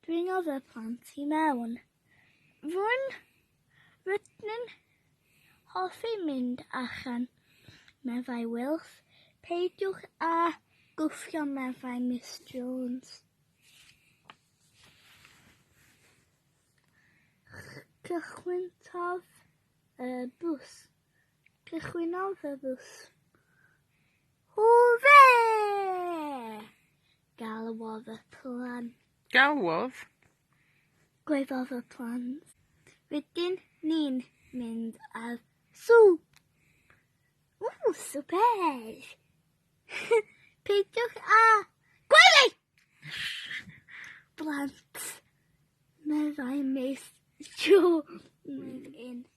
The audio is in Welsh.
Dwi'n oedd y plant i mewn. Rwy'n rydyn hoffi mynd allan, meddai Wilf. Peidiwch â gwffio, meddai Miss Jones. Cychwyntodd y bws. Cychwynnodd y fws. Hwre! Galwodd y plant. Galwodd? Gwedodd y plant. Rydyn ni'n mynd ar swp. Ww, swper! Peidiwch a... Gwely! Blant, meddai Miss Jones yn